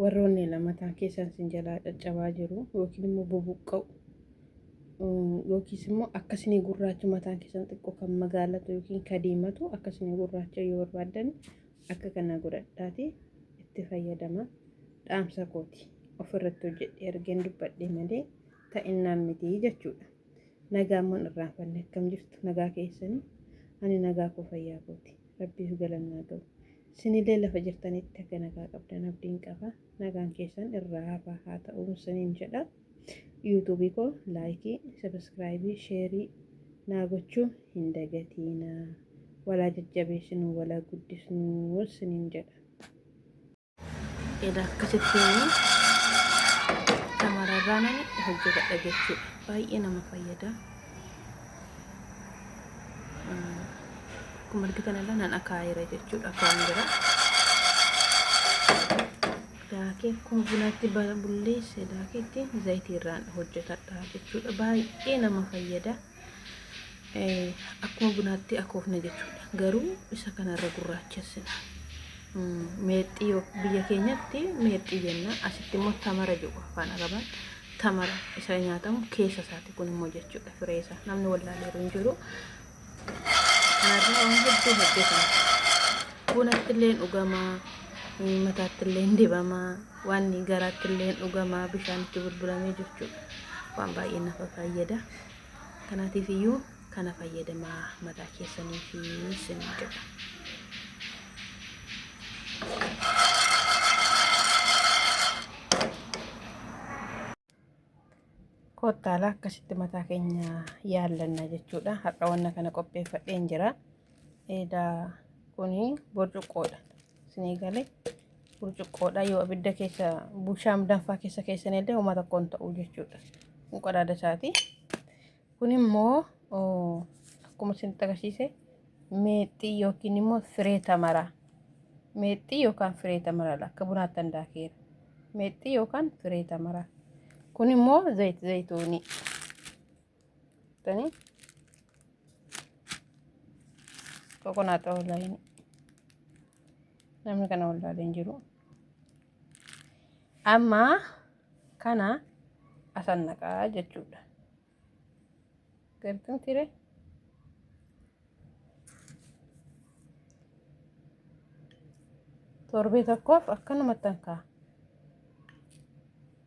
warroonni lamataan keessaan sin jalaa caccabaa jiru yookiin immoo bubuqqa'u yookiis immoo akkasini gurraacha mataan keessan xiqqoo kan magaalatu yookiin ka diimatu akkasini gurraacha yoo barbaaddan akka kana godhadhaati itti fayyadama dhaamsa kooti ofirratti hojjedhe ergeen dubbadhe malee ta'innaan miti jechuudha. Nagaan man irraanfanne akkam jirtu nagaa keessani ani nagaa koo fayyaa kooti rabbiif galanni haa ga'u sinilee lafa jirtanitti akka nagaa qabdan abdiin qaba nagaan keessan irraa hafaa haa ta'uun sinin jedha yuutuubii koo laayikii sabiskiraayibii sheerii naa gochuu hin dagatiina walaa jajjabeessinuu walaa guddisnuu sinin jedha. Edaa akkasitti shamararraa nani hojjetadha jechuudha. Baay'ee nama fayyada. Akkuma argitan irra nan akaayira jechuudha afaan bira. Daakee akkuma bunaatti bulleesse daakeetti zayitiirraan hojjetadha jechuudha. Baay'ee nama fayyada. akkuma bunaatti akoofna jechuudha. Garuu isa kanarra gurraachessina. Meexxii yoo biyya keenyatti meexxii jenna. Asitti immoo tamara jedhu afaan arabaan tamara isa nyaatamu keessa isaati kun immoo jechuudha firee isaa. Namni wallaaleeru hin jiru. Kanarraa waan hedduu hojjetama. Bunatti illee dhugamaa, mataatti illee dibamaa, waan garaatti illee dhugamaa bishaan itti bulbulamee jechuudha. Waan baay'ee nafa fayyada. Kanaatiif iyyuu kana fayyadamaa mataa keessanii fi isinii jedha. Kottaala akkasitti mataa keenya yaallanna jechuudha. Har'a wanna kana qopheeffadheen jira. Eedaa kuni burcuqqoodha. Isinii galee burcuqqoodha yoo abidda keessa bushaam danfaa keessa keessan illee uma tokko hin ta'u jechuudha. Kun qadaada isaati. Kun immoo akkuma isin agarsiise meexxii yookiin immoo firee tamaraa. Meexxii yookaan firee tamaraa akka bunaatti handaakeera. Meexxii yookaan firee tamaraa. Kun immoo zayit zayitoonii. Kokonaaxa wallaahin namni kana wallaalee hin jiru. Amma kana asan naqaa jechuudha. Gartuun tiree. torbee tokkoof akkanumatti hankaa.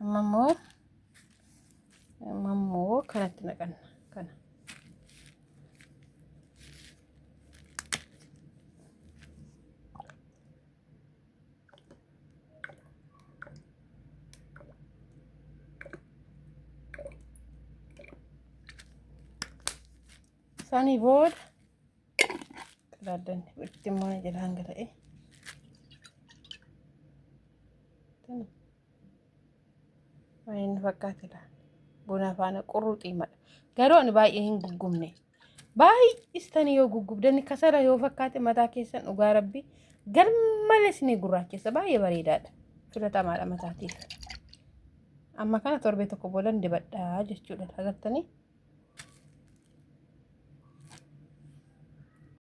Amma immoo amma immoo kanatti naqanna kana. Sani booda qadaaddanni itti immoo na jalaan gala'e. Inni fakkaate laal. Buna faana qurruxii mala. Garuu ani baay'ee hin guggubne. Baay'istanii yoo guggubdanni kasala yoo fakkaate mataa keessan dhugaa rabbi garmalees ni gurraachessa baay'ee bareedaadha. Filatamaadha mataatiif. Amma kana torbee tokko boodan dibadhaa jechuudha. Agartanii?